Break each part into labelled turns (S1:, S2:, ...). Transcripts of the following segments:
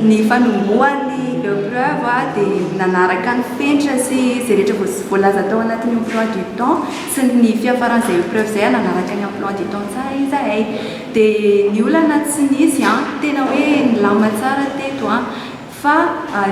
S1: Ny fanombohan'ny Epreuve dia nanaraka ny fenitra sy izay rehetra voalaza tao anatin'ny emploi du temps sy ny fiafaran'izay Epreuve izay ary nanaraka ny emploi du temps tsara izahay. Dia ny olana tsy nisy, tena hoe nilamina tsara teto. Fa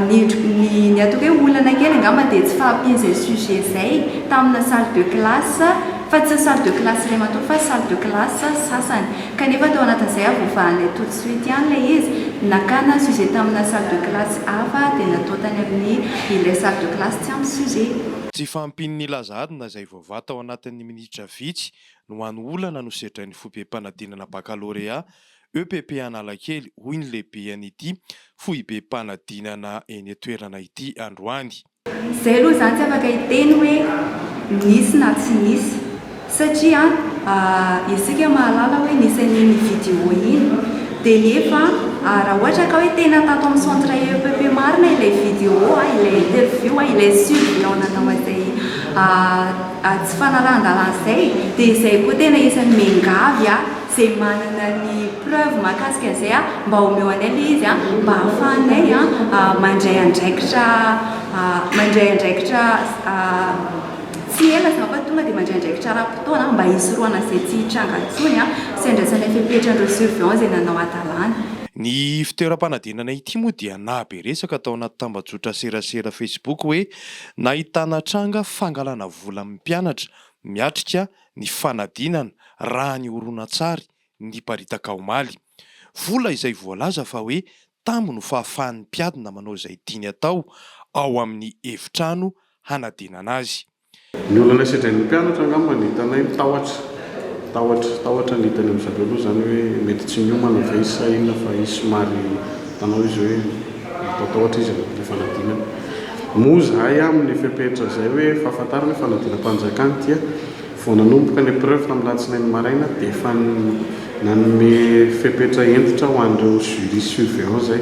S1: ny ny ny ataoko hoe olana kely angamba dia tsy fahampian' izay sujet izay tamina salle de classe, fa tsy ny salle de classe iray manontolo fa salle de classe sasany. Kanefa tao anatin' izay avovahan' ilay tout de suite ihany ilay izy, nakana sujet tamina salle de classe hafa dia natao tany amin' ny ilay salle de classe tsy ampy sujet. Tsy fahampian'
S2: ny laza adina izay voavaha tao anatin' ny minitra vitsy no hany olana no sedrain' ny foibem-panadinana bakalorea EPP Analakely, hoy ny lehiben'ity foibem-panadinana eny an-toerana ity androany. Izay aloha
S1: izaho tsy afaka hiteny hoe nisy na tsy nisy satria isika mahalala hoe nisy an'iny vidéo iny dia nefa raha ohatra ka hoe tena tato amin'ny centre EPP marina ilay vidéo, ilay interview, ilay surveillant nanao an'izay tsy fanarahan-dalàna izay dia izay koa tena isan'ny miangavy ahy. Ze manana ny preuve mahakasika an'izay a mba omeo anay le izy a mba ahafahanay a mandray andraikitra a mandray andraikitra a tsy ela za fa tonga de mandray andraikitra ara-potoana mba hisorohana ze tsy hitranga ntsony a sy andraisanay fepetra an'ireo surveillant ze nanao hadalana. Ny
S2: fitoeram-panadinana ity moa dia nahabe resaka tao anaty tambajotra serasera facebook hoe nahitana tranga fangalana vola amin'ny mpianatra miatrika ny fanadinana raha ny horonantsary niparitaka omaly. Vola izay voalaza fa hoe tambo no fahafahan'ny mpiadina manao izay tiany atao ao amin'ny efitrano hanadinana azy. Ny olana
S3: sedrain'ny mpianatra angamba no hitanay ny tahotra, tahotra, tahotra ny hita any amin'izareo aloha izany hoe mety tsy miomana ve izy sa inona fa izy somary hitanao izy hoe. Matahotra izy amin'ny fanadinana. Moa izahay aminy fepetra izay hoe fahafantarana hoe fanadinam-panjakana dia vao nanomboka ny epreuve tamin'ny alatsinainy maraina dia efa nanome fepetra hentitra ho an'ireo jury surveillant izay.